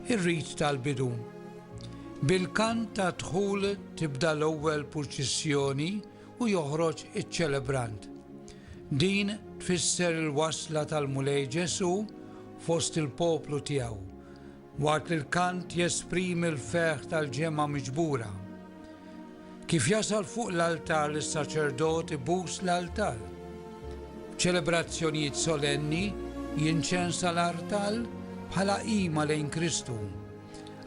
ir-rit tal-bidu. Bil-kant ta' dħul tibda l-ewwel purċissjoni u joħroġ iċ-ċelebrant. Din tfisser il-wasla tal-Mulej Ġesu fost il-poplu tiegħu. Waqt li l-kant jesprimi l-ferħ tal-ġemgħa miġbura. Kif jasal fuq l-altar li s-saċerdot ibus l-altar. B'ċelebrazzjonijiet solenni jinċensa l-artal bħala qima lejn Kristu,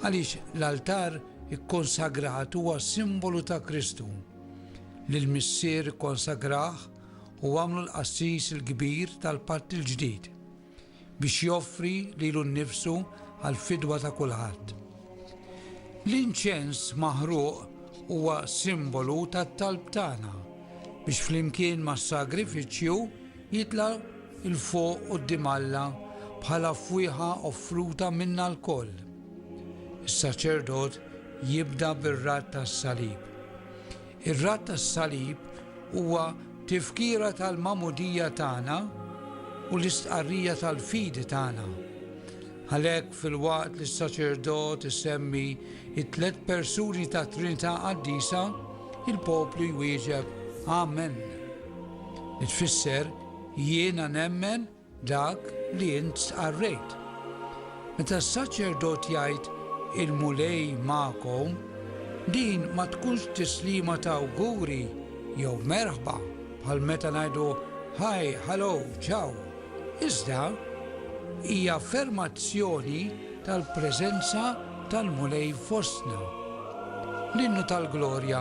għaliex l-altar ikkonsagrat huwa simbolu ta' Kristu, li l-Missier konsagrah u għamlu l-qassis il-kbir tal-patt il-ġdid. biex joffri lilu nnifsu għall-fidwa ta' kulħadd. L-inċens maħruq huwa simbolu tat-talb tagħna biex flimkien mas-sagrifiċċju jitla' il fuq quddiem Alla bħala fwieħa offruta minna lkoll. Is-saċerdot jibda bir-radd tas-salib. Ir-Radd tas-Salib huwa tifkira tal-magħmudija tagħna u l-istqarrija tal-fidi tagħna. Għalhekk, filwaqt li s-saċerdot isemmi t-tliet persuni tat-Trinità Qaddisa, il-poplu jwieġeb Amen, li tfisser Jiena nemmen Dak li int stqarrejt. Meta s-saċerdot jgħid, Il-Mulej magħkom, din ma tkunx tislima ta' awguri jew merħba bħal meta ngħidu Hi, Hallo, Ciao, iżda hija affermazzjoni tal-preżenza tal-Mulej fostna. L-Innu tal-Glorja.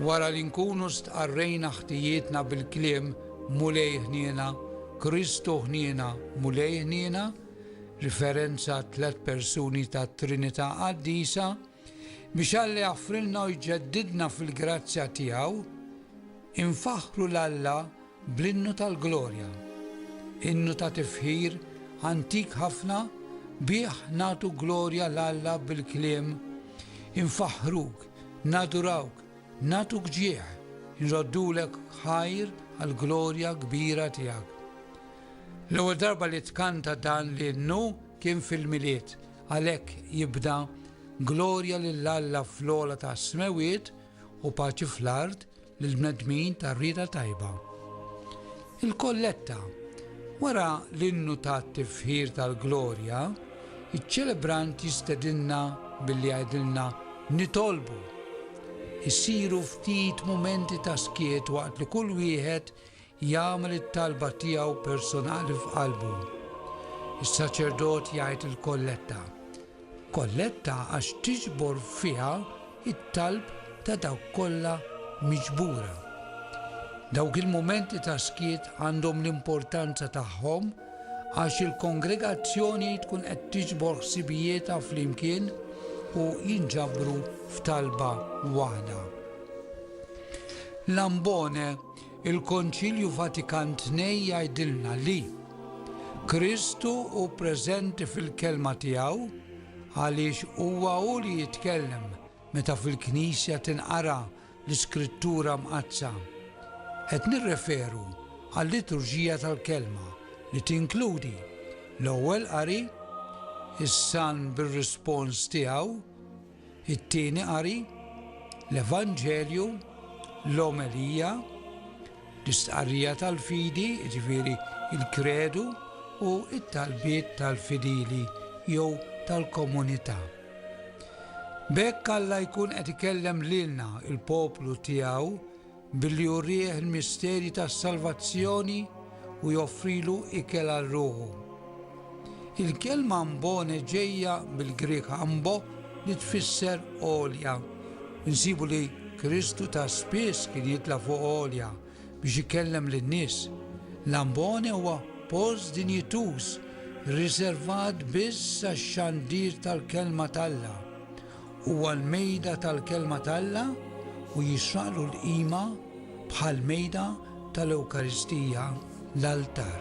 Wara li nkunu stqarrejna ħtijietna bil-kliem Mulej ħniena, Kristu ħniena, Mulej ħniena, riferenza għat-tliet persuni tat-Trinità Qaddisa, biex Alla jaffrilna u jġeddidna fil-grazzja tiegħu, infaħħru 'l Alla Bl-Innu tal-Glorja, innu ta' tifħir antik ħafna, bih nagħtu glorja 'l Alla bil-kliem, infaħħruk, nadurawk, nagħtuk ġieħ, inroddulek ħajr għall-glorja kbira tiegħek. L-ewwel darba li tkanta dan l-innu kien fil-Milied, għalhekk jibda, Glorja lil Alla fl-ogħla tas-smewwiet u paċi fl-art, lill-bnedmin tar-rieda tajba. Il-kolletta, Wara l-innu tat-tifħir tal-glorja, iċ-ċelebrant jistedinna billi jgħidilna nitolbu. Isiru ftit mumenti ta' skiet waqt li kull wieħed Jagħmel it-talba tiegħu personali f'qalbu. Is-saċerdot jgħid il-kolletta. Kolletta għax tiġbor fiha t-talb ta' dawk kollha miġbura. Dawk il-mumenti ta' skiet għandhom l-importanza tagħhom għax il-kongregazzjoni tkun qed tiġbor ħsibijietha flimkien u jinġabru f'talba waħda. L-ambone Il-Konċilju Vatikan Tnej jgħidilna li, Kristu hu preżenti fil-Kelma tiegħu għaliex huwa hu li jitkellem meta fil-Knisja tinqara l-Iskrittura Mqaddsa. Qed nirreferu għal-Liturġija tal-Kelma li tinkludi l-Ewwel Qari, is-Salm bir-rispons tiegħu, it-Tieni Qari, l-Evanġelju, l-Omelija, l-Istqarrija tal-Fidi, jiġifieri l-Kredu, u t-talbiet tal-fidili jew tal-komunità. B'hekk Alla jkun qed ikellem lilna, il-poplu tiegħu, Billi jurih il-misterji tas-salvazzjoni u joffrilu ikel għal ruħu. Il-kelma ambone ġejja mill-Grieg ambo li tfisser għolja. Insibu li Kristu ta' spiss kien jitla fuq għolja biex ikellem lin-nies. L-ambone huwa post dinjituż riservat biss għax-xandir tal-kelma t'Alla. Huwa l-mejda tal-Kelma t'Alla u jisraqlu l-qima bħal mejda tal-Ewkaristija, l-altar.